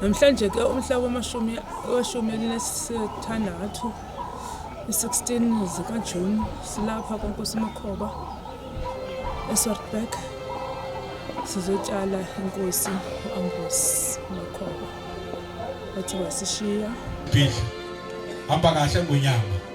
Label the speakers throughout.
Speaker 1: Namhlanje ke umhla wamashumi weshumi elinesithandathu i-16 zikaJuni silapha kwaNkosi Makhoba eSwartberg sizotshala inkosi u-Ambrose Makhoba wathi wasishiya. Hamba
Speaker 2: kahle ngonyama.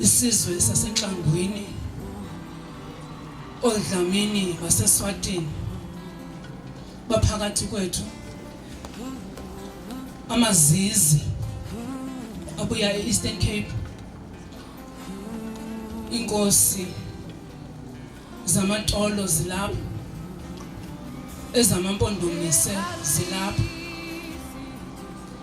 Speaker 3: Isizwe saseNhlangwini oDlamini baseSwatini baphakathi kwethu amazizi abuya e-Eastern Cape inkosi zamatolo zilapho ezamampondomise zilapho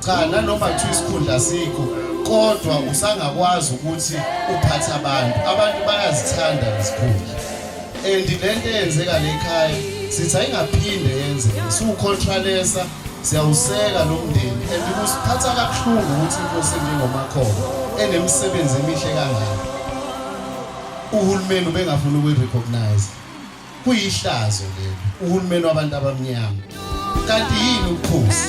Speaker 4: cha nanoma kuthiwa isikhundla sikho kodwa usangakwazi ukuthi uphathe abantu abantu bayazithanda izikhundla and le nto eyenzeka le khaya sithi ayingaphinde yenzeke siwucontralesa siyawuseka lo mndeni and kusiphatha kabuhlungu ukuthi inkosi enjengomakhona enemisebenzi emihle kangaka uhulumeni ubengafuni ukuyi-recognize Kuyihlazo leli uhulumeni wabantu abamnyama. Kanti yini ubukhosi?